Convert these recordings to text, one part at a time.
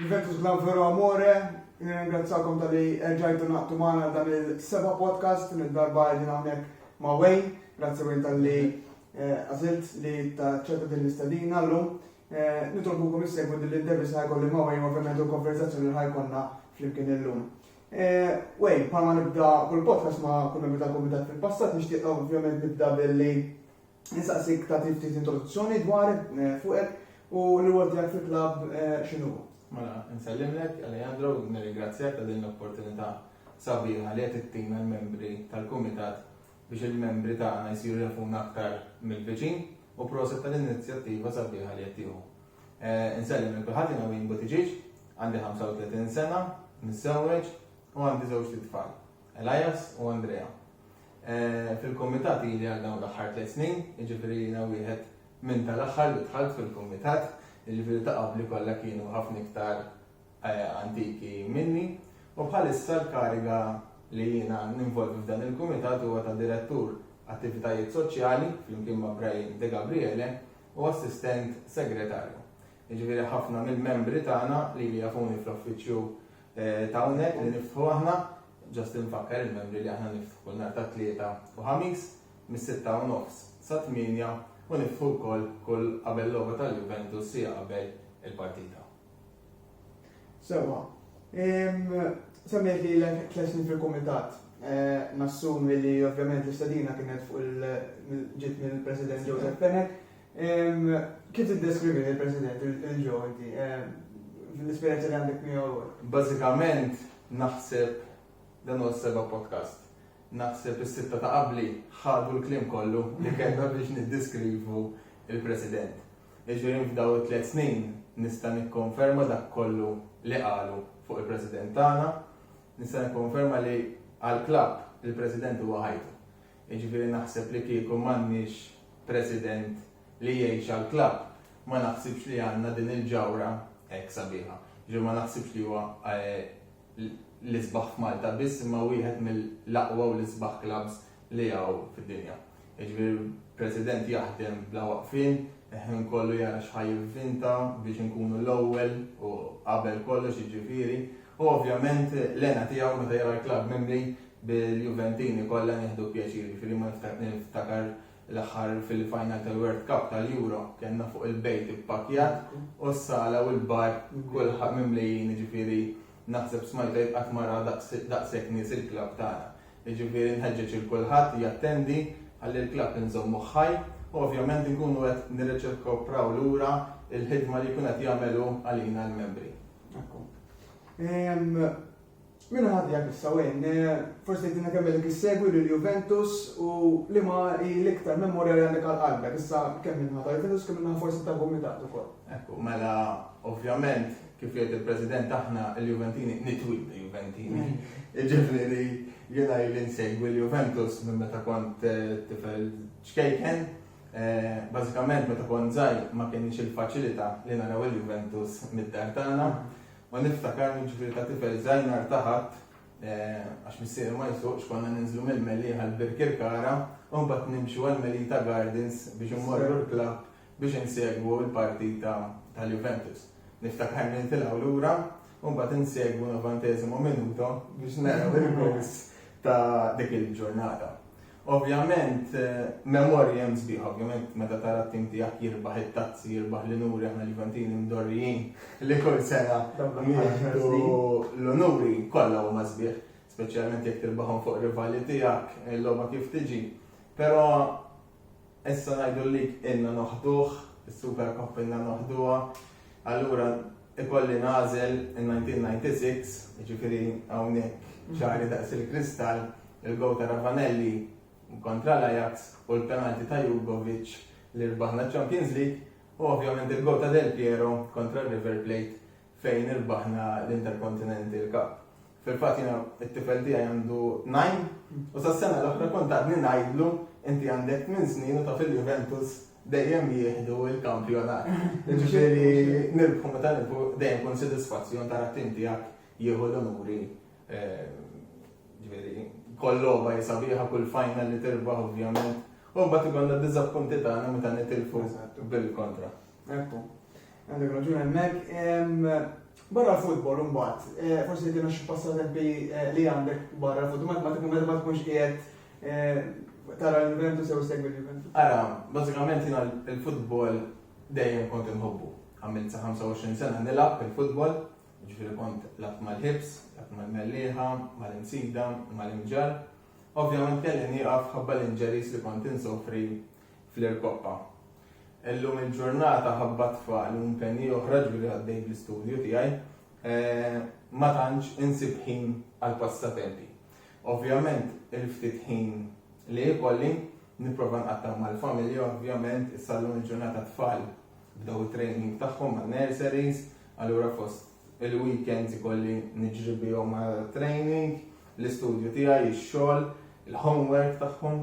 Juventus Club Vero Amore, nirringrazzjakom tal-li erġajtu naqtu maħna dan il-seba podcast, din id-darba għedin għamnek ma' Wayne, grazzi Wayne tal-li eh, għazilt li ta' ċerta din l-istadina l-lum. Eh, Nitolbukom jissegwu din l-intervista ħajkolli ma' Wayne, ovvijament u konverzazzjoni ħajkonna fl-imkien l-lum. Eh, Wayne, palma nibda kull podcast ma' kull membri tal-komitat fil-passat, nishtiq ovvijament nibda billi Insaqsik tagħti ftit introduzzjoni dwarek eh, fuqek u l-rwol tiegħek fil-klabb eh, x'inhu. Mela, nsellimlek Alejandro u nirringrazzjak ta' din l-opportunità sabiħa li qed ittina l-membri tal-kumitat biex il-membri tagħna jsiru jafuna aktar mill-viċin u proset tal-inizjattiva sabiħa li qed tieħu. Eh, Insellim il kulħadd jiena Win Butiġiġ, għandi 35 sena, nissewweġ u għandi żewġ tfal. Elias u Andrea. Fil-kumitat ili għal dawn l-aħħar tliet snin, jiġifieri jiena wieħed minn tal-aħħar li dħalt fil-kumitat, jiġifieri ta' qabli kollha kienu ħafna iktar antiki minni, u bħalissa l-kariga li jiena ninvolvi f'dan il-kumitat huwa ta' Direttur Attivitajiet Soċjali flimkien ma' Brian Degabriele u Assistent Segretarju. Jiġifieri ħafna mill-membri tagħna lili jafuni fl-uffiċċju Ta' hawnhekk li niftħu aħna, ġast infakkar il-membri li aħna niftħu kull nhar ta' Tlieta u Ħamis mis-sitta u nofs sa tmienja u niftħu wkoll kull qabel logħba tal-Juventus siegħa qabel il-partita. Sewwa. Semmejt lilek tliet snin fil-Kumitat. Nassumi li ovvjament l-istedina kienet fuq il ġiet mill-President Joseph Fenech. Kif tiddeskrivi lil President il-ġo inti, fl-esperjenza li għandek miegħu? Bażikament naħseb dan huwa s-seba' podcast. Naħseb is-sitta ta' qabli ħadu l-kliem kollu li kellna biex niddeskrivu l-President. Jiġifieri f'dawn it-tliet snin nista' nikkonferma dak kollu li qalu fuq il-President tagħna, nista' nikkonferma li għall-klabb il-President huwa ħajtu. Jiġifieri naħseb li kieku m'għandniex President li jgħix għall-klabb, ma naħsibx li għandna din il-ġawhra hekk sabiħa. Jiġifieri ma naħsibx li huwa l-isbaħ f'Malta biss imma wieħed mill-aqwa u l-isbaħ klabbs li hawn fid-dinja. Jiġifieri President jaħdem bla waqfien, il-ħin kollu jara x'ħa jivvinta biex inkunu l-ewwel u qabel kollox jiġifieri u ovvjament l-hena tiegħu meta jara l-klabb mimli Bil-Juventini kollha nieħdu pjaċir, jiġifieri ma niftakar l-aħħar fil-final tal-World Cup tal-Euro kellna fuq il-bejt ippakkjat u s-sala u l-bar kulħadd mimlijin, jiġifieri naħseb smajt għid qatt ma ra daqshekk nies il-klabb tagħna. Jiġifieri nħeġġeġ lil kulħadd jattendi ħalli l-klabb inżommuh ħaj u ovvjament inkunu qed nirreċiprokaw lura l-ħidma li jkun qed jagħmel hu għalina l-membri. Ekku. Min ħa tiegħek issa Wayne? Forsi tgħidilna kemm ilek issegwi lil Juventus u liema hi l-iktar memorja li għandek għal qalbek. Issa kemm min-naħa ta' Juventus kemm min-naħa forsi tal-Kumitat ukoll. Ekku, mela ovvjament kif jgħid il-President aħna l-Juventini nitwieldu Juventini. Jiġifieri jiena ili nsegwi lil Juventus minn meta kont tifel ċkejken. Bażikament meta kont żgħir ma kellniex il-faċilità li naraw il-Juventus mid-dar tagħna. U niftakarni ġifieri ta' tifel żgħinnar ta' Ħadd, għax missieri ma jsuqx, konna ninżlu mill-Mellieħa għal Birkirkara u mbagħad nimxu għal Melita Gardens biex immorru l-klabb biex insegwu l-partita tal-Juventus. Niftakarni nitilgħu lura u mbagħad insegwu novantesimo minuto biex naraw il-gowls ta' dik il-ġurnata. Ovvjament, memorji hemm sbieħ, ovvjament, meta tara t-tim tiegħek jirbaħ it-tazzi, jirbaħ l-inuri aħna l-Juventini mdorrijin li kull sena nieħdu l-unuri kollha huma sbieħ, speċjalment jekk tirbaħhom fuq rivali tiegħek, il-logħba kif tiġi. Però Issa ngħidu li ilna noħduh, is-Super Cup ilna noħduha, allura ikolli nagħżel in-1996, jiġifieri hawnhekk ċari daqs il-kristall, il-gowl ta' Ravanelli kontra l-Ajax u l-penalti ta' Jugovic li rbaħna ċ-Champions League u ovvjament il-gowl ta' Del Piero kontra r-River Plate fejn irbaħna l-Intercontinental Cup. Fil-fatt jiena t-tifel tiegħi għandu tnajn u sas-sena l-oħra kont għadni ngħidlu inti għandek tmien snin u taf li l-Juventus dejjem jieħdu l-kampjonat. Jiġifieri nirbħu meta nirbħu dejjem kun sodisfazzjon tara t-tim tiegħek jieħu l-unuri. Ġifieri kull logħba hi sabiħa, kull final li tirbaħ ovvjament. U mbagħad ikollna d-diżappunti tagħna meta nitilfu bil-kontra. Ekku, għandek raġun hemmhekk. Barra l-futbol imbagħad, eh, forsi dina xi passatempi eh, li għandek barra l-futbol, ma tkun meta ma tkunx qiegħed eh, tara l-Juventus jew segwi l-Juventus. Ara, bażikament jiena l-futbol dejjem kont inħobbu. Għamilt sa 25 sena nilgħab il-futbol, ġifieri kont lab mal-ħibs, lab mal-mellieħa, mal-insida, mal-inġar. Ovvjament kelli nieqaf ħabba l-inġeris li kont insofri fl-Irkoqqa. Illum il-ġurnata ħabba tfal u impenji oħra ġifieri għaddej bl-istudju tiegħi ma tantx insib ħin għall-passatempi. Ovvjament il-ftit ħin li jkolli nipprova nqattgħu mal-familja ovvjament issa llum il-ġurnata t-tfal bdew it-training tagħhom man-nurseries allura fost il-weekends ikolli niġri bihom għal training, l-istudju tiegħi, ix-xogħol, il-homework tagħhom.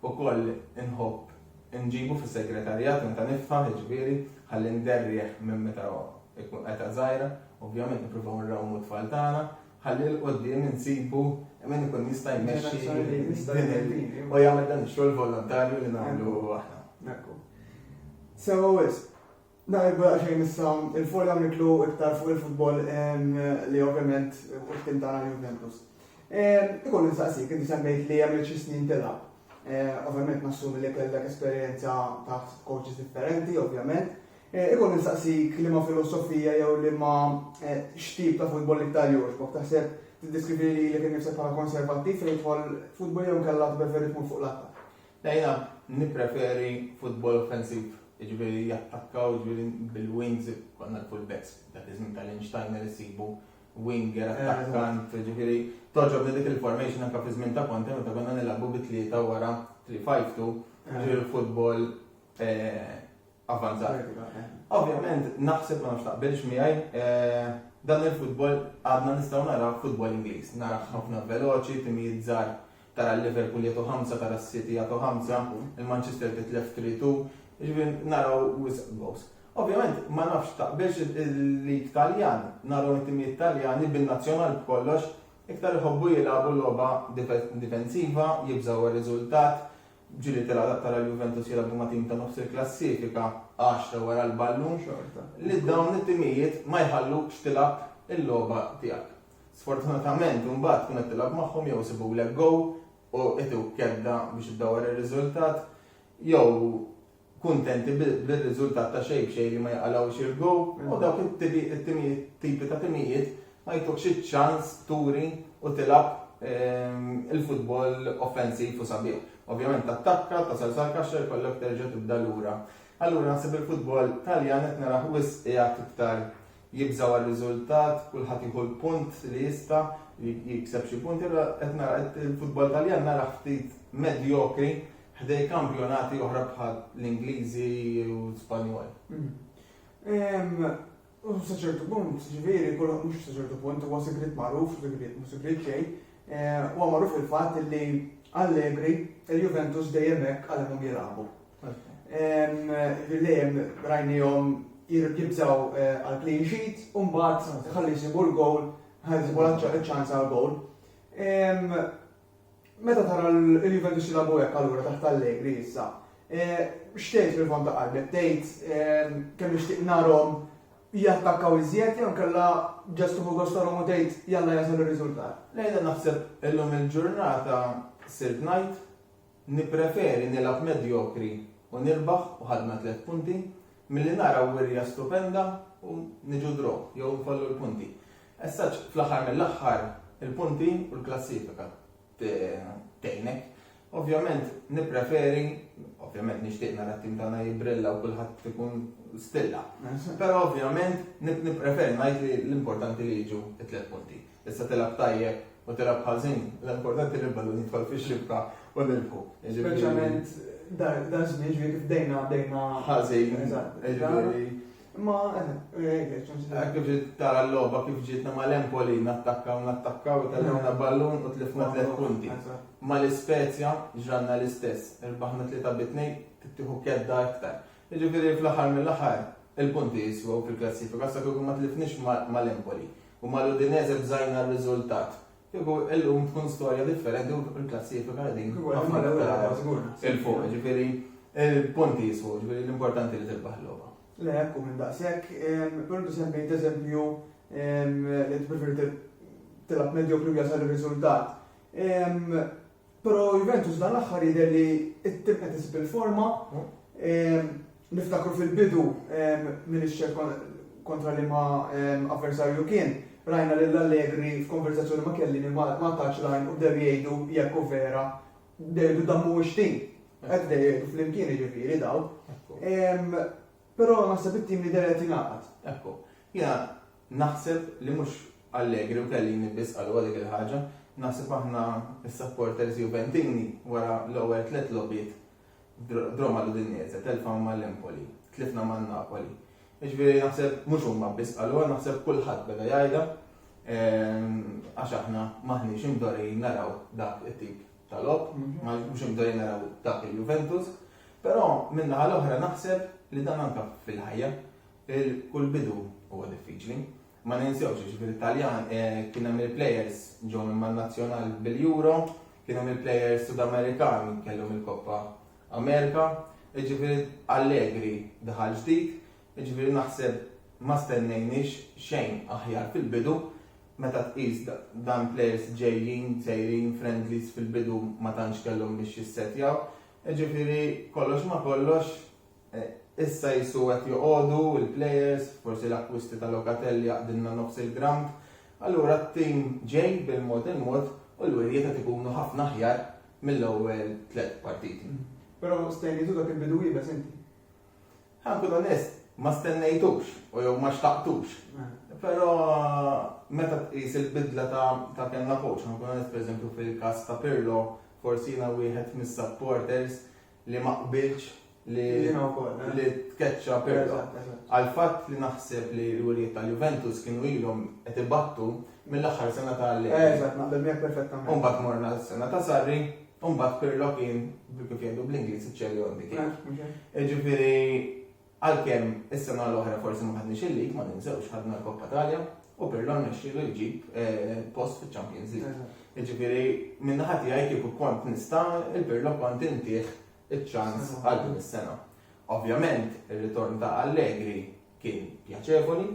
ukoll inħobb inġibu fis-segretarjat meta niftaħ, jiġifieri ħalli nderrieh minn meta jkun età żgħira, ovvjament nippruvaw nrawmu t-tfal tagħna, ħalli 'l quddiem insibu min ikun jista' jmexxi u jagħmel dan ix-xogħol volontarju li nagħmlu aħna. Sewwa wisq. Nhar ilu daqsxejn issa 'l fuq dawn nitlu iktar fuq il-futbol li ovvjament hu t-tim tagħna l-Juventus. Ikolli nsaqsik, inti semmejt li għamilt xi snin tilgħab. Ovvjament nassumi li kellek esperjenza taħt coaches differenti, ovvjament. Ikolli nsaqsik liema filosofija jew liema x'tip ta' futbol l-iktar jogħġbok? Taħseb tiddeskrivi lilek innifsek bħala konservattiv fejn jidħol futbol jew inkella tpreferi tkun fuq l-attakk? Jiena nippreferi futbol offensiv, jiġifieri jattakkaw, jiġifieri bil-wings, konna l-full backs dak iż-żmien ta' Lynch Steiner issibu winger, attakkant, jiġifieri togħġobni dik il-formation anke fiż-żmien ta' Conte meta konna nilagħbu bi tlieta wara three five two, jiġifieri futbol avvanzat. Ovvjament naħseb, ma nafx taqbilx miegħi, dan il-futbol għadna nistgħu naraw futbol Ingliż, naraw ħafna veloċi, timijiet żgħar tara l-Liverpool jagħtu ħamsa, tara s-City jagħtu ħamsa, il-Manchester titlef tlitu, jiġifieri naraw wisq gowls. Ovvjament ma nafx taqbilx il-lig Taljan, naraw it-timijiet Taljani bin-nazzjonal b'kollox iktar iħobbu jilagħbu logħba difensiva, jibżgħu għar-riżultat, ġieli tara tara l-Juventus jilagħbu ma' tim ta' nofs il-klassifika, għaxra wara l-ballun, li dawn it-timijiet ma jħallukx tilgħab il-logħba tiegħek. Sfortunatament imbagħad tkun qed tilgħab magħhom jew isibulek goal u ituk kedda biex iddawwar ir-riżultat jew kuntenti bir-riżultat ta' xejn b'xejn li ma jqalgħux il-goal u dawk it-tipi ta' timijiet ma jtukx iċ-ċans turi u tilgħab il-futbol offensiv u sabiħ. Ovvjament tattakka, tasal sal-kaxxa jkollok terġa' tibda lura. Allura naħseb il-futbol Taljan qed narah wisq qiegħed iktar jibżgħu għar-riżultat, kulħadd jieħu l-punt li jista', jikseb xi punti, allura qed nara il-futbol Taljan narah ftit medjokri ħdej kampjonati oħra bħal l-Ingliżi u l-Spanjol. U sa ċertu punt, ġifieri, kollox mhux sa ċertu punt, huwa sigriet magħruf, sigriet mhux sigriet xejn, huwa magħruf il-fatt li Allegri il-Juventus dejjem hekk għalhemhom jilagħbu. Bil-lejem rajnijom jibżaw eh, għal clean sheet, un-bat ħalli jisibu l-gowl, ħalli jisibu l-ċans għal gowl. Meta tara l-Juventus jilabu hekk allura taħt Allegri issa. Eh, xtejt fil-fond ta' qalbek, tgħid eh, kemm nixtieq narhom jattakkaw iżjed jew kellha ġest uħu gostarhom u tgħid jalla jasal ir-riżultat. Lejla naħseb illum il-ġurnata Sid Knight Nippreferi nilgħab medjokri u nirbaħ u ħadna tliet punti, milli nara wirja stupenda u niġu draw jew nfallu l-punti. As such, fl-aħħar mill-aħħar, il-punti u l-klassifika tgħinek. Ovvjament nippreferi, ovvjament nixtieq nara t-tim tagħna jibbrilla u kulħadd ikun stilla. Però ovvjament nippreferi ngħid li l-importanti li jiġu t-tliet punti. Tista' tilgħab tajjeb u tilgħab ħażin, l-importanti li l-ballun jidħol fix-xibka u nilħqu. Speċjalment dak żmien ġifieri kif bdejna bdejna ħażin. Eżatt. Ma hekk ġiet tara l-logħba kif ġietna mal-Empoli nattakkaw nattakkaw u tellgħuna ballun u tlifna tliet punti. Mal-Ispezja ġranna l-istess, irbaħna tlieta bi tnejn tittieħu kedda iktar. Jiġifieri fl-aħħar mill-aħħar il-punti jiswew fil-klassifika sa kieku ma tlifniex mal-Empoli u mal-Udinese bżajna r-riżultat. Kieku illum tkun storja differenti u l-klassifika qegħdin ħafna iktar 'il fuq. Jiġifieri l-punti jiswew, jiġifieri l-importanti li tirbaħ il-logħba. Le hekk hu minn daqshekk. Però inti semmejt eżempju li inti preferiet tilgħab medjokri u jasal ir-riżultat. Però Juventus dan l-aħħar jidher li t-tim qed isib il-forma. Niftakru fil-bidu min ix-xejn kontra liema avversarju kien, rajna lil Allegri f'konversazzjoni ma' Chiellini ma ngħatatx l-għajn u bdew jgħidu jekk hu vera, bdew jgħidu dan mhuwiex tim. Hekk bdew jgħidu flimkien jiġifieri dawn. Però naħseb it-tim jidher li qed jingħaqad. Ekku. Jiena Naħseb li mhux Allegri u Chiellini biss qalu għalik il-ħaġa, naħseb aħna s-supporters Juventini wara l-ewwel tliet logħbiet b'Roma l-Udinese, telfa ma' l-Empoli, tlifna ma' Napoli. Jiġifieri naħseb mhux huma biss qaluha, naħseb kulħadd beda jgħidha għax aħna m'aħniex imdorrijin naraw dak it-tip ta' logħob, mhux imdorrijin naraw dak il-Juventus, però min-naħa l-oħra naħseb li dan anke fil-ħajja Il kull bidu huwa diffiċli. Ma ninsewx li fil Taljan kien hemm il plejers ġew minn man Nazzjonal bil Euro, kien hemm il plejers Sud Amerikani kellhom il Koppa Amerika, jiġifieri Allegri daħal ġdid, jiġifieri naħseb ma stennejniex xejn aħjar fil bidu meta tqis dan plejers ġejjin sejrin friendlies fil bidu ma tantx kellhom biex jissetjaw, jiġifieri kollox ma kollox Issa qisu qed joqogħdu l-players, forsi l-akkwisti ta' Locatelli jaqdilna nofs il-ground. Allura t-tim ġej bil-mod il-mod u l-wirjiet qed ikunu ħafna aħjar mill-ewwel tliet partiti. Però stennejtu dak il-bidu iebes inti? Ħa nkun onest, ma stennejtux u jew ma xtaqtux. Però meta tqis il-bidla ta' kellna coach, ħa nkun onest pereżempju fil-każ ta' Pirlo, forsi jiena wieħed mis-supporters li ma qbiltx li li tkeċċa Pirlo. Għall-fatt li naħseb li l-wlied tal-Juventus kienu ilhom qed ibattu mill-aħħar sena ta' Allegri. Eżatt, naqbel miegħek perfettament. U mbagħad morna s-sena ta' Sarri, u mbagħad Pirlo kien kif jgħidu bl-Ingliż iċ-cherry on the cake. Jiġifieri Għalkemm is-sena l-oħra forsi ma ħadniex il-lig, ma ninsewx ħadna l-Koppa Talja u Pirlo rnexxielu jġib eh, post fiċ-Champions League. Jiġifieri minn naħa tiegħi kieku kont nista' il-Pirlo kont intih iċ-ċans għal din is-sena. Ovvjament, ir-ritorn ta' Allegri kien pjaċevoli,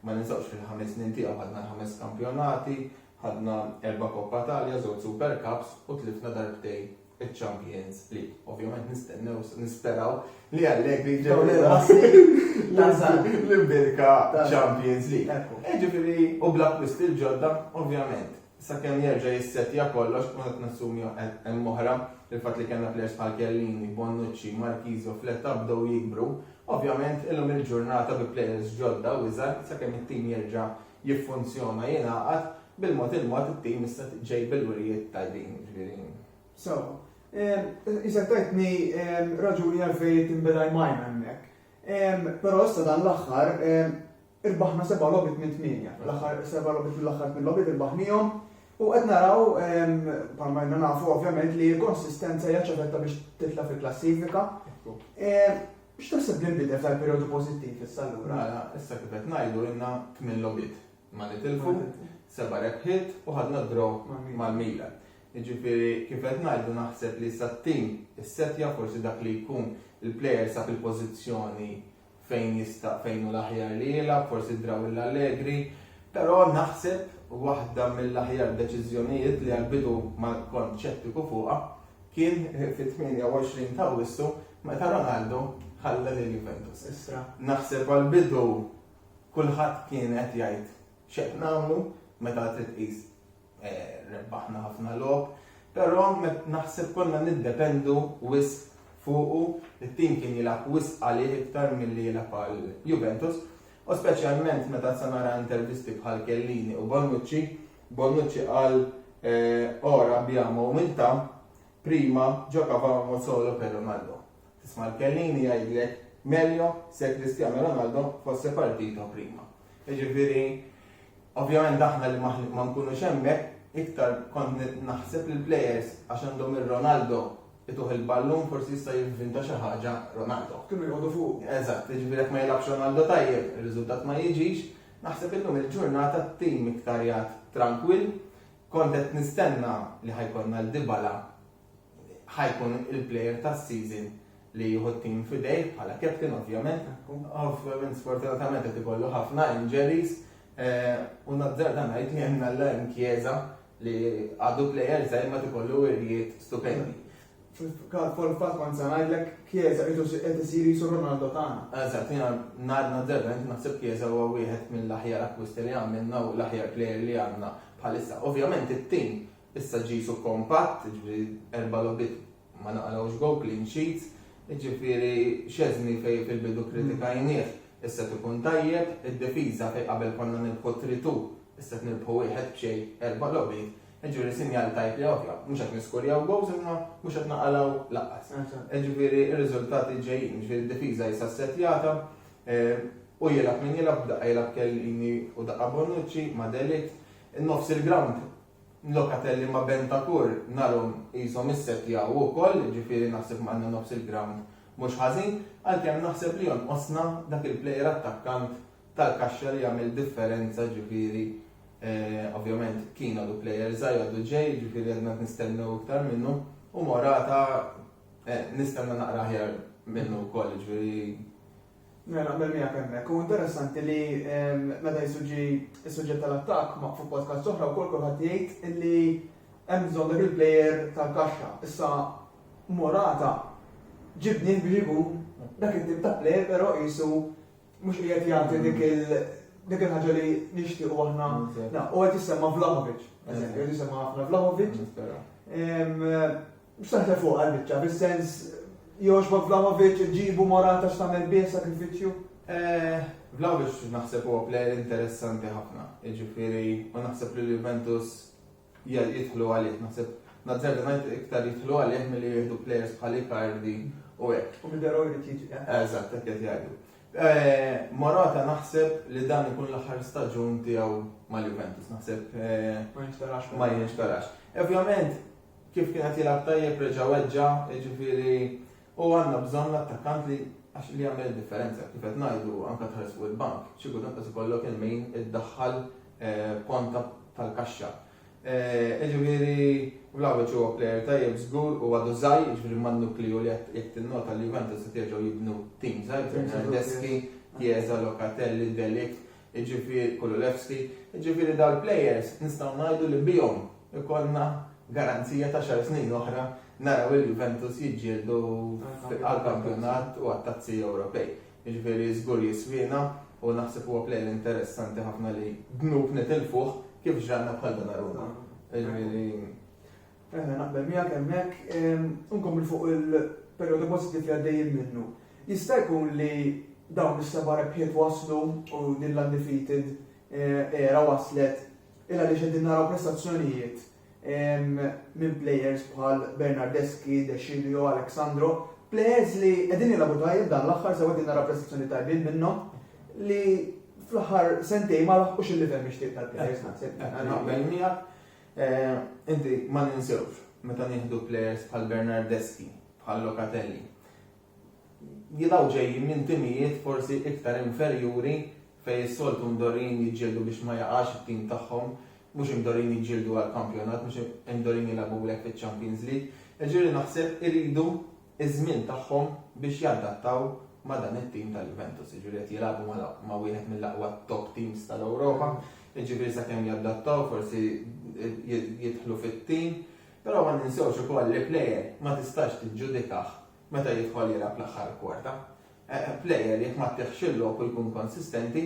ma ninsawx fil-ħames snin tiegħu ħadna ħames kampjonati, Ħadna erba' Coppa Italia, żewġ Super Cups u tlifna darbtejn iċ-Champions League. Ovvjament nistennew, nisperaw li Allegri jġib l-erba' snin l-imbirka Champions League. E ġifieri, u bl-akkwisti l-ġodda, ovvjament, sakemm jerġa' jissettja kollox, u qed nassumi hemm oħra, il-fatt li kellna plejers bħal Chiellini, Bonucci, Marchisio u Fletta bdew jikbru, ovvjament illum il-ġurnata bi plejers ġodda u iżgħar, sakemm it-tim jerġa' jiffunzjona jingħaqad bil-mod il-mod it-tim issa ġej bil-wirjiet tajbin ġifieri. Sewwa. Isek tajtni raġuni għalfejn it-Timber Eye Mine hemmhekk. Però issa dan l-aħħar irbaħna seba' logħbiet minn tmienja. L-aħħar seba' logħbiet mill-aħħar tmien logħbiet irbaħnihom u qed naraw bħalma ilna nafu ovvjament li l-konsistenza hija ċavetta biex titla' fil-klassifika. X'taħseb li nbidel sal-perjodu pożittiv issa allura? Mela, issa kif qed ngħidu ilna tmien logħbiet ma nitilfu, seba' rebħiet u ħadna d-draw mal-Milan. Jiġifieri kif qed ngħidu naħseb li issa t-tim issettja forsi dak li jkun il-player sab il-pożizzjoni fejn jista' fejn hu l-aħjar li jilgħab, forsi d-draw lill-Allegri, però naħseb waħda mill-aħjar deċiżjonijiet li għall-bidu ma kont xettiku fuqha kien fit-28 ta' Awwissu Meta Ronaldo ħalla lil Juventus issa, naħseb għall-bidu kulħadd kien qed jgħid x'qed nagħmlu meta trid tqis rebbaħna ħafna logħob, però naħseb konna niddependu wisq fuqu, it-tim kien jilgħab wisq għalih iktar milli jilgħab għal Juventus u speċjalment meta issa nara intervisti bħal Chiellini u Bonucci, Bonucci qal ora abbiamo umiltà Prima giocavamo solo per Ronaldo. Tisma' l-kelliem jgħidlek meglio se Cristiano Ronaldo fosse partito prima. Jiġifieri ovvjament aħna li ma nkunux hemmhekk iktar kont naħseb li l-players għax għandhom ir-Ronaldo ituh il-ballun forsi jista' jivvinta xi ħaġa Ronaldo. Kienu jqogħdu fuq. Eżatt, jiġifieri jekk ma jilgħabx Ronaldo tajjeb, ir-riżultat ma jiġix. Naħseb illum il-ġurnata t-tim iktar jgħad trankwill, Kont qed nistenna li ħa jkollna l Dybala ħa jkun il player tas season li jieħu t-team f'idejh bħala captain ovvjament. Ovvjament sfortunatament qed ikollu ħafna injuries u nazzarda ngħid li hemm Allan Chiesa li għadu player żgħir ma t ikollu wirjiet stupendi. Fil-każ fil-fatt kont se ngħidlek Chiesa qisu qed isir qisu Ronaldo tagħna. Eżatt, jiena ngħidna d-debent naħseb Chiesa huwa wieħed mill-aħjar akkwisti li għamilna u l-aħjar plejer li għandna bħalissa. Ovvjament it-tim issa ġisu kompatt, jiġifieri erba' logħbiet ma naqalgħux gowl, clean sheets, jiġifieri Szczesny fejn fil-bidu kkritikajnieh issa qed ikun tajjeb, id-difiża fejn qabel konna nirbħu 3-2 issa qed nirbħu wieħed b'xejn, erba' logħbiet, Jiġifieri sinjal tajb li ovvja, mhux qed niskurjaw gowls imma mhux qed naqalgħu lanqas. Jiġifieri r-riżultati ġejjin, jiġifieri d-difiża hi sassettjata u jilgħab min jilgħab, b'daqqa jilgħab Chiellini u daqqa Bonucci ma' de Ligt. Nofs il-grawnd Locatelli ma' Bentancur narhom qishom issettjaw ukoll, jiġifieri naħseb għandna nofs il-grawnd mhux ħażin, għalkemm naħseb li jonqosna dak il-plejer attakkant tal-kaxxa li jagħmel differenza ġifieri ovvjament kien għadu plejer żgħir għadu ġej ġifieri għadna qed nistennew iktar minnu u Morata nistenna naqra aħjar minnu wkoll ġifieri Mela, naqbel miegħek hemmhekk. U interessanti li ehm, meta jisuġġi is-suġġett tal-attakk ma' fuq podcast oħra wkoll kulħadd jgħid illi hemm bżonn dak il-plejer tal-kaxxa. Issa Morata ġibni biex ikun dak it-tip ta' plejer però qisu Mhux qiegħed jagħti dik il dik il-ħaġa li nixtiequ aħna. U qed jisemma Vlahovic, eżempju, qed jisemma ħafna Vlahovic. Saħta fuq għal-biċċa, bis-sens Joshua Vlahovic ġibu morata x'tagħmel bih sakrifiċċju? Eh, Vlahovic naħseb huwa plejer interessanti ħafna, jiġifieri u naħseb li Juventus jidħlu għalih. Naħseb nazzarda ngħid iktar jidħlu għalih milli jieħdu plejers bħal Icardi u hekk. U Milderoj li tiġi. Eżatt, hekk qed jgħidu. Morata naħseb li dan ikun l-aħħar staġun tiegħu mal-Juventus. Naħseb ma jinxtarax. Ma jinxtarax. Ovvjament, kif kien qed jilgħab tajjeb reġa' weġġa', jiġifieri U għandna bżonn l-attakkant li għax li jagħmel id-differenza. Kif qed ngħidu anke tħares fuq il-bank, xi kultant qed ikollok il-min iddaħħal ponta tal-kaxxa. Jiġifieri Vlahovic huwa plejer tajjeb żgur u għadu żgħir, jiġifieri man-nukliju li qed jekk tinnota li Juventus qed jerġgħu jibnu tim żgħir, Bernardeschi, Chiesa, Locatelli, De Ligt, jiġifieri Kululevski, jiġifieri dawn il-players nistgħu ngħidu li bihom ikollna garanzija ta' xar snin oħra naraw lil Juventus jiġġieldu għall-kampjonat u għat-tazzi Ewropej. Jiġifieri żgur jiswiena u naħseb huwa player interessanti ħafna li dnub nitilfuh kif ġralna bħal Donnarumma. Jiġifieri Eħe, naqbel miegħek hemmhekk. Inkompli fuq il-perjodu pożittiv li għaddejjin minnu. Jista' jkun li dawn is-seba' rebħiet waslu u din l-undefeated era waslet il għaliex qegħdin naraw prestazzjonijiet minn players bħal Bernardeschi, De Sciglio, Alex Sandro, players li qegħdin jilagħbu tajjeb dan l-aħħar sew qegħdin naraw prestazzjoni tajbin minnhom li fl-aħħar sentej ma laħqux il-livell mixtieq tal-players naħseb naqbel miegħek. Inti ma ninsewx meta nieħdu plejers bħal Bernardeschi, bħal Locatelli. Jilgħu ġejjin minn timijiet forsi iktar inferjuri fejn is-soltu mdorrijin jiġġieldu biex ma jaqax it-tim tagħhom, mhux imdorrijin jiġġieldu għall-kampjonat, mhux imdorrijin jilgħabu hekk fiċ-Champions League. Jiġifieri naħseb iridu iż-żmien tagħhom biex jadattaw ma' dan it-tim tal-Juventus, jiġifieri qed jilagħbu ma' wieħed mill-aqwa top teams tal-Ewropa, jiġifieri sakemm jadattaw forsi jidħlu fit-tim, però ma ninsewx ukoll li plejer ma tistax tiġġudikah meta jidħol jilgħab l-aħħar kwarta. Plejer jekk ma ttiħx il-lok u jkun konsistenti,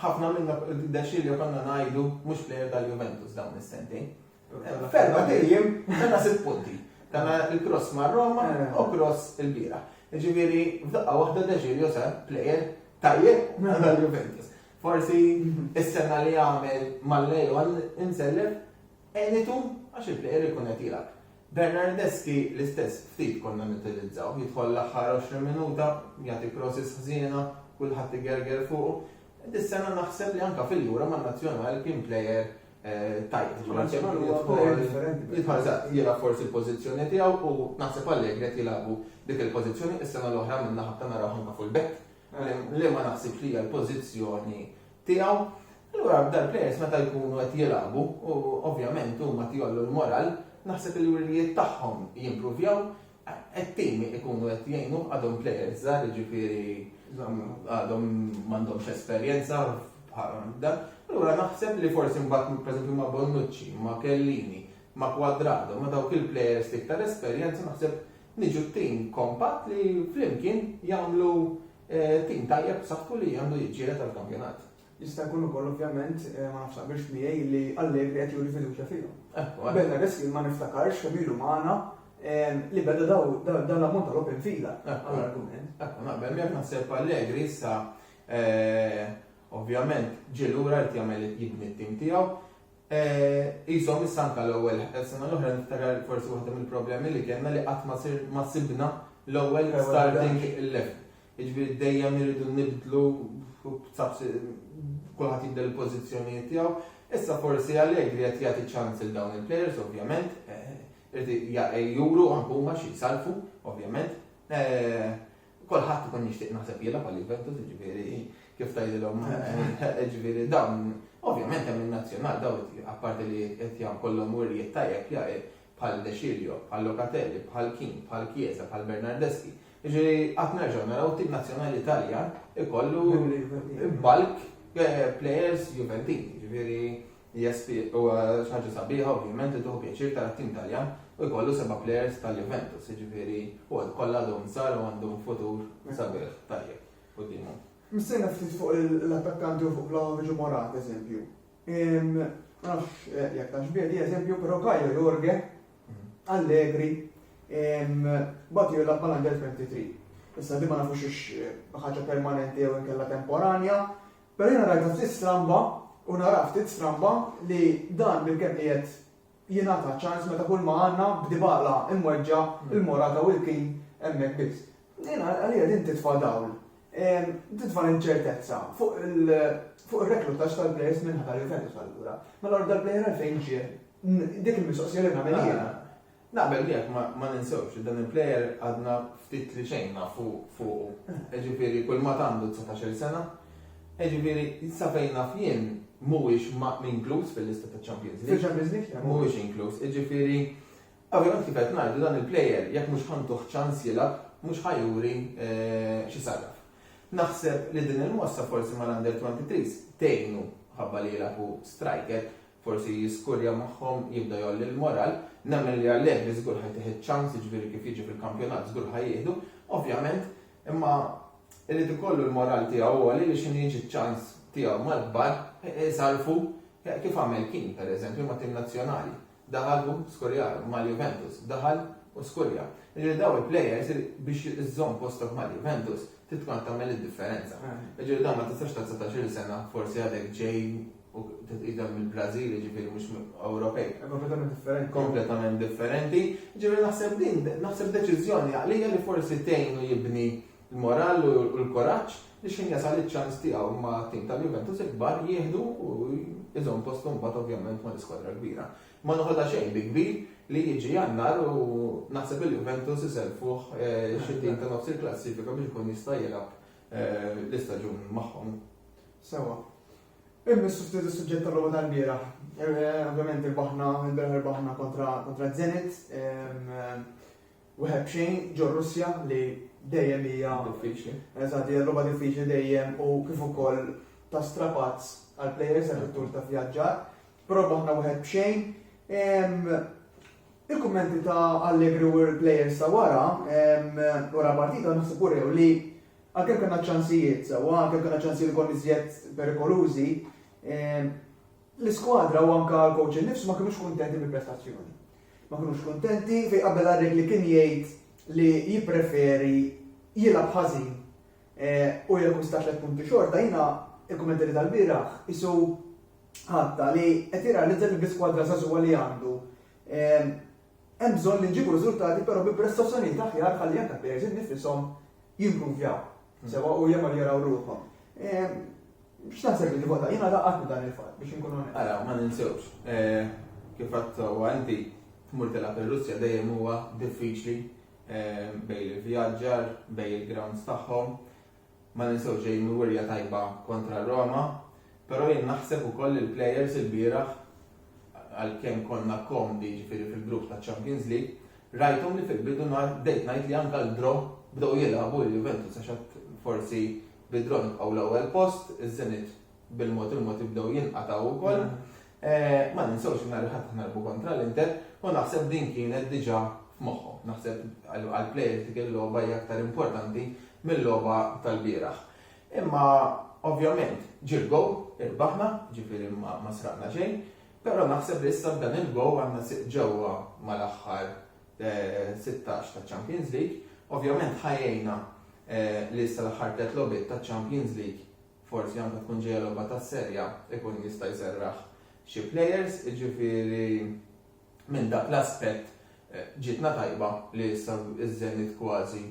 ħafna minna, De Sciglio konna ngħidu mhux plejer tal-Juventus dawn is-sentejn. Ferba tejjem kellna sitt punti. Kellna il-cross ma' Roma u cross il-bira. Ġifieri f'daqqa waħda Deġilio sar plejer tajjeb għal Juventus. Forsi s-sena li għamel mal-Lejon insellef għenitu għax il-plejer ikun qed jilgħab. Bernardeschi l-istess ftit konna nutilizzaw, jidħol l-aħħar 20 minuta, jagħti crosses ħżiena, kulħadd igerger fuqu. Dis-sena naħseb li anke fil-jura man-nazzjonal kien plejer tajt internazzjonali huwa player differenti. Jidħol eżatt, jilgħab forsi l-pożizzjoni tiegħu u naħseb għalhekk qed jilagħbu dik il-pożizzjoni is-sena l-oħra minna ħabta naraw anke fuq il-back li ma naħsibx li hija l-pożizzjoni tiegħu. Allura dal players meta jkunu qed jilagħbu u ovvjament huma tjollu l-moral, naħseb il-wirjiet tagħhom jimpruvjaw It-tim ikunu qed jgħinuh għadhom players żgħar, jiġifieri għadhom m'għandhomx esperjenza bħal dan. Allura naħseb li forsi mbagħad pereżempju ma' Bonnucci, ma' Chiellini, ma' Cuadrado, ma' dawk il-players l-iktar esperjenza naħseb niġu tim kompatt li flimkien jagħmlu tim tajjeb b'saħħtu li għandu jiġġieled għall-kampjonat. Jista' jkun ukoll, ovvjament, ma nafx taqbilx miegħi, li Allegri qed juri fiduċja fihom. Bert Areski ma niftakarx kemm ilu magħna li beda dan l-ammont ta' logħob infila għall-argument. Ekku, naqbel miegħek naħseb Allegri issa ovvjament ġie lura qed jagħmel jibni t-tim tiegħu. Qishom issa anke l-ewwel sena l-oħra niftakar forsi waħda mill-problemi li kellna li qatt ma sibna l-ewwel starting eleven. Jiġifieri dejjem irridu nibdlu kulħadd jibdel il-pożizzjonijiet tiegħu. Issa forsi Allegri qed jagħti ċans lil dawn il-plejers ovvjament, irid juru anke huma xi jsarrfu ovvjament. Kulħadd ikun jixtieq naħseb jilgħab għal Juventus, jiġifieri kif tgħidilhom jiġifieri dawn ovvjament hemm in-nazzjonal dawn apparti li qed jkollhom wirjiet tajjeb bħal De Cirio, bħal Locatelli, bħal Keane, bħal Chiesa, bħal Bernardeschi. Jiġifieri qatt nerġgħu naraw tim nazzjonali Taljan ikollu bulk eh, players Juventini. Jiġifieri hija ħaġa sabiħa ovvjament li tuħu pjaċir tara tim Taljan u jkollu seba' players tal-Juventus. Jiġifieri u kollha għadhom sar u għandhom futur sabiħ tajjeb qudiemhom. Mistejna ftit fuq l-attakkanti u fuq Vlahovic u Morat, eżempju. Ma nafx jekk tafx bih di eżempju, però Caio Jorge Allegri batu jilgħab mal-Under 23. Issa di ma nafux ix ħaġa permanenti jew inkella temporanja, però jiena rajta ftit stramba u nara ftit stramba li dan bil-kemm qiegħed jingħata ċans meta kulma għandna b'Dybala imweġġa' lil Morata u l-Keane hemmhekk biss. Din għalija din titfa' dawl, titfa' l-inċertezza fuq ir-reklutaġġ tal-plejers min-naħa ta' Juventus allura. Mela allura dal-plejer għalfejn ġie? Dik il-mistoqsija li nagħmel jiena. Naqbel miegħek, ma ninsewx li dan il-plejer għadna ftit li xejn nafu fuqu. Jiġifieri kulma għandu dsatax-il sena, Jiġifieri, sa fejn naf jien, mhuwiex inkluż fil-lista taċ-Champions League. Fil-Champions League, le. Mhuwiex inkluż. Jiġifieri, ovvjament kif qed ngħidu, dan il-player jekk mhux ħa ntuh ċans jilgħab, mhux ħa juri xi sarraf. Naħseb li din il-mossa forsi mal-Under 23s tgħinu ħabba li jilgħab hu striker, forsi jiskurja magħhom, jibda jgħolli l-moral. Nemmen li Allegri żgur ħa jtih iċ-ċans, jiġifieri kif jiġi fil-kampjonat żgur ħa jieħdu. Ovvjament, Imma irid ikollu l-moral tiegħu għoli biex minn jiġi ċ-ċans tiegħu mal-kbar isarrfu kif għamel Keane, pereżempju, mat-tim nazzjonali. Daħal u skurjah, mal-Juventus, daħal u skurja. Jiġifieri dawn il-plejers biex iżżomm postok mal-Juventus trid tkun qed tagħmel id-differenza. Jiġifieri dan ma tistax ta' 19-il sena forsi għadek ġej u titqidem mill-Brażil, jiġifieri mhux Ewropej. Kompletament differenti. Kompletament differenti. Jiġifieri naħseb din, naħseb deċiżjoni għaqlija li forsi tgħinu jibni l-moral u l-kuraġġ li xejn jasal iċ-ċans tiegħu ma' tim tal-Juventus il-kbar jieħdu u jżomm postu mbagħad ovvjament ma' l-iskwadra kbira. Ma noħodha xejn bi kbir li jiġi jannar u naħseb il-Juventus iselfuh eh, xi tim ta' nofs il-klassifika biex ikun jista' jilgħab eh, l-istaġun magħhom. Sewa. Immissu ftit is-suġġett tal-logħba tal-bieraħ. Ovvjament irbaħna, il-bieraħ irbaħna kontra kontra Zenit. Wieħed b'xejn ġo Russja li dejjem hija diffiċli. Eżatt, hija logħba diffiċli dejjem u kif ukoll ta' strapazz għal players għal tur ta' vjaġġar. Però baħna wieħed b'xejn. Il-kummenti ta' Allegri u l-players ta' wara, wara partita naħseb urew li Għalkemm kellna ċ-ċansijiet sewwa, għalkemm kellna ċansijiet ukoll iżjed perikolużi, l-iskwadra u anke l-kowċ innifsu ma kinux kuntenti bil-prestazzjoni. Ma kinux kuntenti fejn qabel Arrighi li kien jgħid li jippreferi jilgħab ħażin u jakkwista tliet punti xorta, jiena il-kummenti li tal-bieraħ qisu ħatta li qed jirrealizza li bl-iskwadra żagħżugħa li għandu Hemm bżonn li nġibu riżultati però bi prestazzjonijiet aħjar ħalli anke l-players innifishom jimpruvjaw sewwa u jagħmel jaraw ruħhom. X'taħseb li tivvota? Jiena laqatni dan il-fatt biex inkun onest. Ara, ma ninsewx, kif għedt sewwa inti, tmur tilgħab ir-Russja dejjem huwa diffiċli bejn l-ivvjaġġar, bejn il-grounds tagħhom. Ma ninsewx xejn il-wirja tajba kontra Roma, però jien naħseb ukoll li l-players ilbieraħ, għalkemm konna komdi jiġifieri fil-grupp taċ-Champions League, rajthom li fil-bidu nhar bdejt ngħid li anke l-draw bdew jilagħbu il-Juventus għax għad forsi bid-draw nibqgħu l-ewwel post, iż-Zenit bil-mod il-mod jibdew jinqatgħu wkoll. Ma ninsewx li nhar il-Ħadd aħna nilgħbu kontra l-Inter u naħseb din kienet diġà f'moħħhom. Naħseb għall-plejers dik il-logħba hija aktar importanti mil-logħba tal-bieraħ. Imma ovvjament ġie l-gowl, irbaħna, jiġifieri ma sraqna xejn, però naħseb li issa b'dan il-gowl għandna siq ġewwa mal-aħħar 16 taċ-Champions League. Ovvjament ħa jgħinna li issa l-aħħar tliet logħbiet taċ-Champions League Forsi anke tkun ġejja logħba tas-Serie A, ikun jista' jserraħ xi players, jiġifieri minn dak l-aspett ġietna tajba li issa ż-Zenit kważi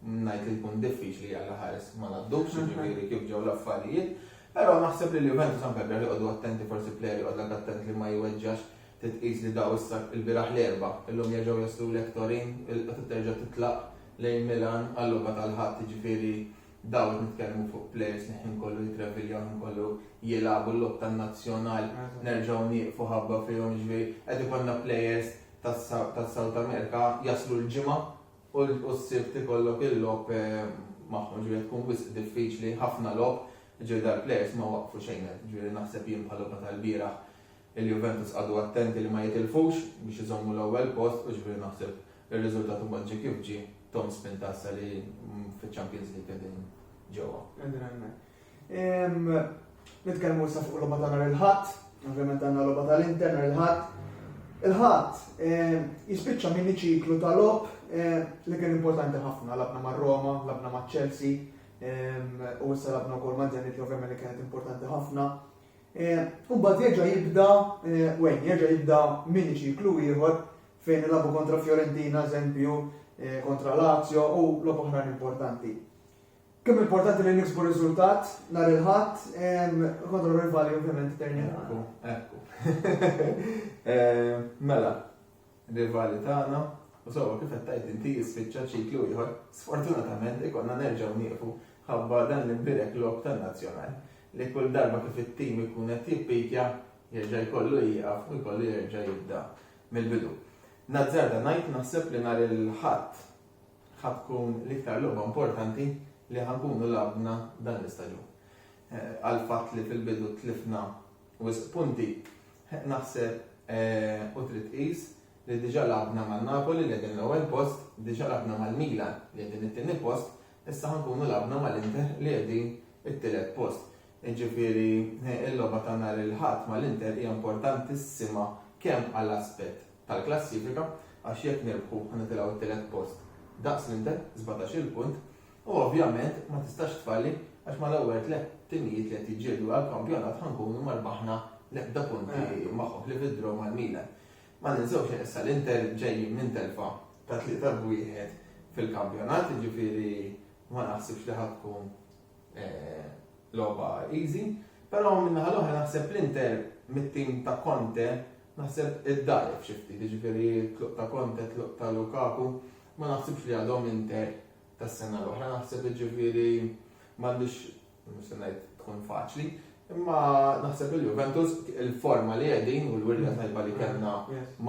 ngħid li jkun diffiċli li għal ħares ma ngħaddux, jiġifieri kif ġew l-affarijiet. Però naħseb li l-Juventus anke l-biraħ joqogħdu attenti, forsi player joqgħodlek attent li ma jweġġax, titqis li daw issa l-biraħ l-Erbgħa, illum jerġgħu jaslulek Turin, il-Qatgħa terġa' titlaq lejn Milan għal-logħba tal-Ħadd, jiġifieri Dawn qed nitkellmu fuq plejers li ħin kollu jitraviljaw, ħin kollu jilagħbu l-logħob tan-nazzjonal, nerġgħu nieqfu ħabba fihom, jiġifieri qed ikollna plejers tas-South America jaslu l-Ġimgħa u s-Sibt ikollok il-logħob magħhom, jiġifieri qed tkun wisq diffiċli, ħafna logħob, jiġifieri dal-plejers ma waqqfu xejn, jiġifieri naħseb jien bħal-logħba tal-bieraħ Il-Juventus qagħdu attenti li ma jitilfux biex iżommu l-ewwel post u x'bih naħseb ir-riżultat imbagħad ġie kif ġie, Tom Spintaza li fiċ-Champions League qegħdin ġewwa. Qegħdin hemmhekk. Ehm, nitkellmu issa fuq logħba ta' nhar il-Ħadd, ovvjament għandna logħba tal-Inter nhar il-Ħadd. Il-Ħadd ehm, jispiċċa minn ċiklu ta' logħob ehm, li kien importanti ħafna, labna ma' Roma, labna ma' Chelsea, u issa labna wkoll ma' Zenit li ovvjament li kienet importanti ħafna. U mbagħad jerġa' jibda Wayne, jerġa' jibda mini ċiklu ieħor fejn ilagħbu kontra Fiorentina, eżempju, kontra Lazio u logħob oħrajn importanti. Kemm importanti li niksbu riżultat nhar il-Ħadd kontra rivali ovvjament Terni. Ekku, ekku. Mela, rivali tagħna u sewwa kif qed tgħid inti jispiċċa ċiklu ieħor, sfortunatament ikollna nerġgħu nieqfu ħabba dan l-imbierek logħob tan-Nazzjonal li kull darba kif it-tim ikun qed jippikja jerġa' jkollu jieqaf u jkollu jerġa' jibda mill-bidu. Nazzarda ngħid naħseb li nhar il-Ħadd ħa tkun l-iktar logħba importanti li ħa nkunu lagħbna dan l-istaġun. Għall-fatt li fil-bidu tlifna Wisq punti. Naħseb u trid tqis li diġà lagħbna ma' Napoli li qegħdin l-ewwel post, diġà lagħbna mal-Milan li qegħdin it-tieni post, issa ħa nkunu lagħbna mal-Inter li qegħdin it-tielet post. Jiġifieri l-logħba ta' nhar il-Ħadd mal-Inter hija importantissima kemm għall-aspett tal-klassifika għax jekk nirbħu ħa nitilgħu t-tielet post daqs l-Inter, sbatax-il punt, U ovvjament ma tistax tfalli għax mal-ewwel tliet timijiet li qed jiġġieldu għall-kampjonat ħa nkunu ma rbaħna l-ebda punti magħhom ħlief id-draw mal-Milan. Ma ninsewx li issa l-Inter ġejjin minn telfa ta' tlieta b' wieħed fil-kampjonat, jiġifieri ma naħsibx li ħa tkun logħba easy. Però min-naħa l-oħra naħseb l-Inter mit-tim ta' Conte naħseb iddgħajjef xi ftit, jiġifieri t-tluq ta' Conte, t-tluq ta' Lukaku, ma naħsibx li għadhom Inter tas-sena l-oħra naħseb jiġifieri m'għandix mhux se ngħid tkun faċli, imma naħseb il-Juventus il-forma li qegħdin u l-wirja tajba li kellna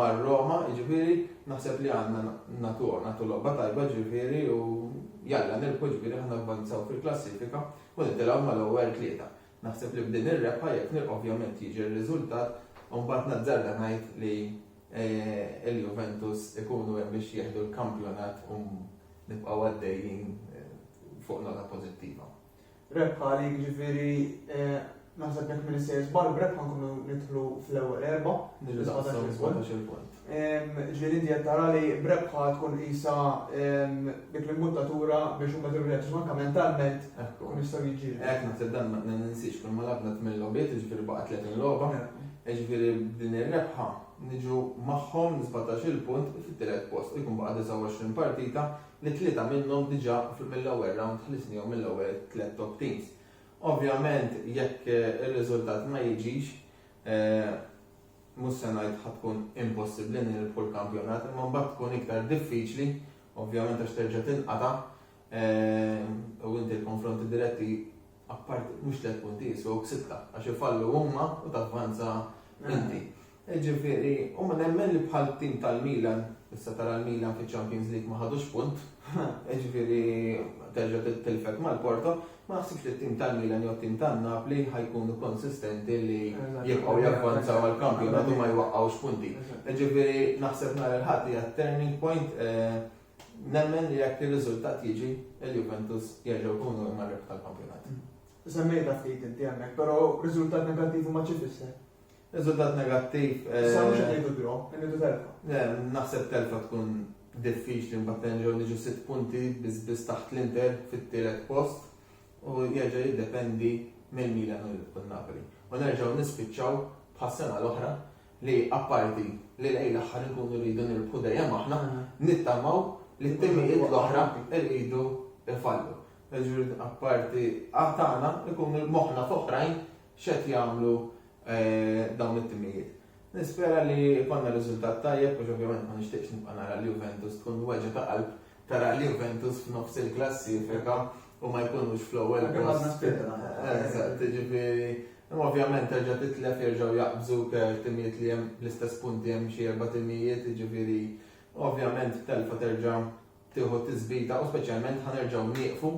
mar-Roma, jiġifieri naħseb li għandna natu natu logħba tajba jiġifieri u jalla nilqu jiġifieri ħna avvanzaw fil-klassifika u nitilgħu mal-ewwel tlieta. Naħseb li b'din ir-rebħa jekk nilqu ovvjament jiġi r-riżultat u mbagħad nazzarda ngħid li il-Juventus ikunu hemm biex jieħdu l-kampjonat u nibqgħu għaddejjin fuq nota pożittiva. Rebħa għalik, jiġifieri naħseb jekk minn is-sejr żball b'rebħa nkunu nidħlu fl-ewwel erba'. Nidħlu fl-ewwel punt. Ġifieri inti qed tara li b'rebħa tkun qisha dik l-imbuttatura biex huma jidhru lejn anke mentalment ikun jistgħu jiġġieldu. Hekk naħseb dan ma ninsiex kull ma lagħbna tmien logħbiet, jiġifieri baqa' 30 logħba. Jiġifieri b'din ir-rebħa niġu magħhom minn sbatax-il punt fit-tielet post u jkun baqa' 29 partita li tlieta minnhom diġà mill-ewwel rawnd ħlisnihom mill-ewwel tliet top teams. Ovvjament jekk ir-riżultat ma jiġix, mhux se ngħid ħa tkun impossibbli nirbħu l-kampjonat imma mbagħad tkun iktar diffiċli ovvjament għax terġa' tinqata' u inti l-konfronti diretti Apparti, mhux tliet punti jiswew sitta, għax ifallu huma u tavvanza inti. Jiġifieri, u nemmen li bħal tim tal-Milan, issa tara l-Milan fiċ-Champions League ma ħadux punt, jiġifieri terġa' tilfek mal-Porto, ma naħsibx li t-tim tal-Milan jew t-tim tan-Napli ħa jkunu konsistenti li jibqgħu javvanzaw għall-kampjonat u ma jwaqqgħux punti. Jiġifieri naħseb nhar il-Ħadd hija turning point eh, Nemmen li jekk ir-riżultat jiġi, il-Juventus jerġgħu jkunu huma r-rebħa tal-kampjonat. Semmejtha ftit inti hemmhekk, però riżultat negattiv imbagħad xi tfisser? Riżultat negattiv. Issa mhux qed ngħidu draw, qed ngħidu telfa. Le, naħseb telfa tkun diffiċli mbagħad nerġgħu niġu sitt punti biss biss taħt l-Inter fit-tielet post u jerġa' jiddependi mill-Milan u l-Napoli. U nerġgħu nispiċċaw bħas-sena l-oħra li apparti li lejn l-aħħar inkunu rridu nirbħu dejjem aħna, nittamaw li t-timijiet l-oħra rridu jfallu. Jiġifieri apparti tagħna ikunu moħħna f'oħrajn x'qed jagħmlu dawn it-timijiet. Nispera li jkollna riżultat tajjeb għax ovvjament ma nixtieqx nibqa' nara lil Juventus tkun weġgħa ta' qalb tara lil Juventus f'nofs il-klassifika u ma jkunux fl-ewwel post. Għadna spiċċajna. Eżatt, jiġifieri Imma ovvjament terġa' titlef jerġgħu jaqbżuk timijiet li hemm l-istess punti hemm xi erba' timijiet jiġifieri ovvjament b'telfa terġa' tieħu tisbita u speċjalment ħa nerġgħu nieqfu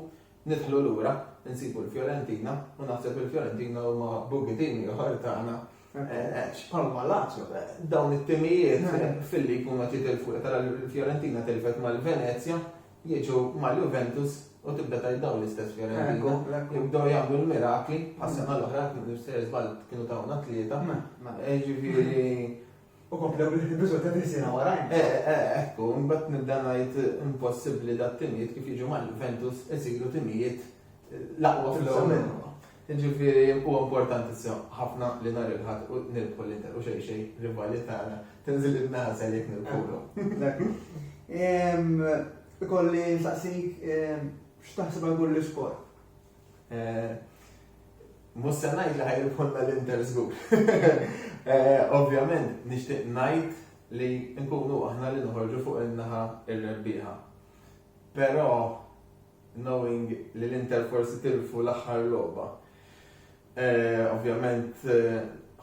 nidħlu lura nsibu l-Fiorentina u naħseb il-Fiorentina huma boogie team ieħor tagħna għax bħalma Lazio dawn it-timijiet filli jkunu qed jitilfu tara l-Fiorentina tilfet mal-Venezja jiġu mal-Juventus u tibda tgħid dawn l-istess Fiorentino li bdew jagħmlu l-mirakli għas-sena l-oħra se żball kienu tawna tlieta. Ġifieri u komplew bil-riżultati li sena warajn. Eh, eh, eh, ekku, mbagħad nibda ngħid impossibbli dat-timijiet kif jiġu mal-Juventus isiru timijiet l-aqwa fil-ewwel. Jiġifieri huwa importanti sew ħafna li nhar il-Ħadd u nirbħu l-Inter u xejn xejn rivali tagħna tinżel in-nagħżel jekk nirbħulu. Eżatt. Ehm, Ikolli nsaqsik ehm, x'taħseb għal kull iskor. Eh, Mhux se ngħid li ħajribħulna l-Inter żgur. Eh, Ovvjament nixtieq ngħid li nkunu aħna li noħorġu fuq in-naħa ir-rebbieħa. Però knowing li l-Inter forsi tilfu l-aħħar logħba. Ovvjament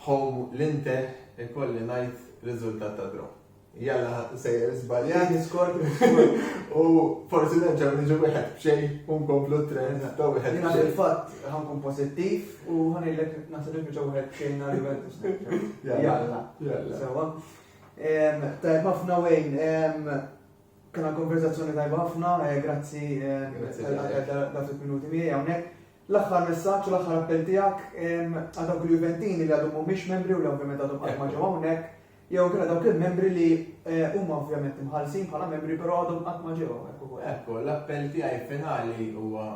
home l-Inter ikolli ngħid riżultat ta' draw. Jalla ħadd sejjer żbaljat iskor u forsi nerġa' niġu wieħed b'xejn u nkomplu t-trend ta' wieħed. Jiena fil-fatt ħankun pożittiv u ħanilek naħseb li biġa wieħed b'xejn nhar Juventus. Jalla. Jalla. Sewa. Tajb ħafna wejn Kena konverzazzjoni tajba ħafna, eh, grazzi eh, dak il-minuti miegħi hawnhekk. L-aħħar messaġġ u l-aħħar appell tiegħek għal dawk il-Juventini li għadhom mhumiex membri u li ovvjament għadhom qatt ma ġew hawnhekk, jew kien dawk il-membri li eh, huma ovvjament imħallsin bħala membri però għadhom qatt ma ġew hawnhekk ukoll. Ekku, l-appell tiegħi finali huwa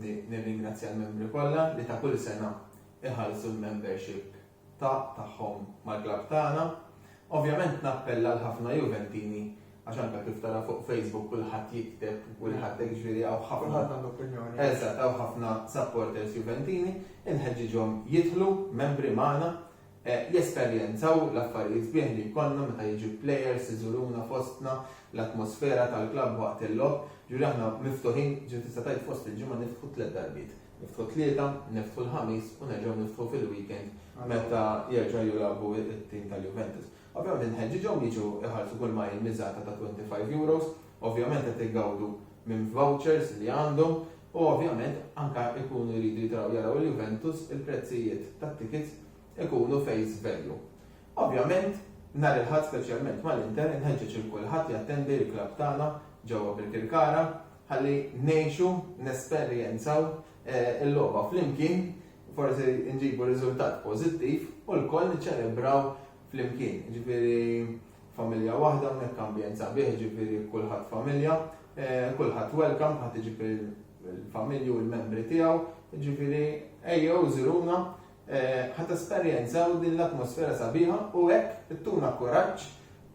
nirringrazzja l-membri kollha li ta' kull sena iħallsu l-membership ta' tagħhom mal-klabb tagħna. Ovvjament nappella għal ħafna Juventini għax anke kif tara fuq Facebook kulħadd jikteb u kulħadd hekk ġifieri hawn ħafna. Kulħadd għandu opinjoni. Eżatt, hawn ħafna supporters Juventini, inħeġġiġhom jidħlu membri magħna, eh, jesperjenzaw l-affarijiet sbieħ li jkollna meta jiġu players iżuruna fostna, l-atmosfera tal-klabb waqt il-logħob, ġifieri aħna miftuħin, ġifieri tista' tgħid fost il-ġimgħa niftħu tliet darbiet. Niftħu t-Tlieta, niftħu l-Ħamis u nerġgħu niftħu fil-weekend meta jerġa' jilagħbu t-tim tal-Juventus. Ovvjament inħeġġiġhom jiġu jħallsu kull ma hi miżata ta' €25, ovvjament qed igawdu minn vouchers li għandhom u ovvjament anke jkunu jridu jitilgħu jaraw il-Juventus il-prezzijiet tat-tickets ikunu face value. Ovvjament nhar il-Ħadd speċjalment mal-Inter inħeġġeġ lil kulħadd jattendi l-klabb tagħna ġewwa Birkirkara Ħalli ngħixu, nesperjenzaw il-logħba flimkien, forsi nġibu riżultat pożittiv u lkoll niċċelebraw flimkien. Jiġifieri familja waħda hawnhekk ambjent sabiħ, jiġifieri kulħadd familja, kulħadd welcome, kulħadd iġib il-familji u l-membri tiegħu, jiġifieri ejjew żuruna Ħa tesperjenzaw din l-atmosfera sabiħa u hekk ittuna kuraġġ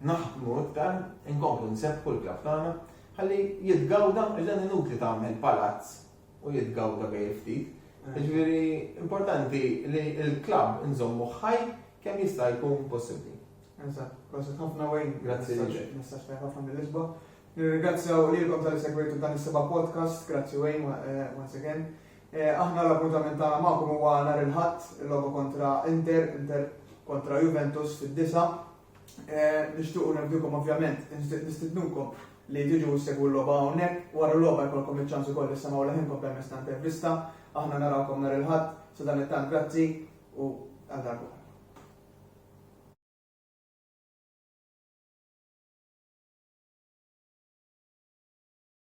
naħdmu iktar, inkomplu nsebbħu l-klabb tagħna ħalli jitgawda għax dan inutli tagħmel palazz u jitgawda bejn il-ftit. Jiġifieri importanti li l-klabb inżommu ħaj kemm jista' jkun possibbli. Eżatt, proset ħafna Wayne. Grazzi lilek. Messaġġ tajjeb ħafna mill-Lisbon. Nirringrazzjaw lilkom tal-li segwejtu dan is-seba' podcast. Grazzi Wayne once again. Aħna l-appuntament tagħna magħkom huwa nhar il-Ħadd, il-logħba kontra Inter, Inter kontra Juventus fid-disgħa. Nixtiequ nerdukom ovvjament, nistidnukom li tiġu ssegwu l-logħba hawnhekk, wara l-logħba jkollkom iċ-ċans ukoll issemgħu leħinkom permezz ta' intervista. Aħna narawkom nhar il-Ħadd, sadanittant grazzi u għal darb'oħra.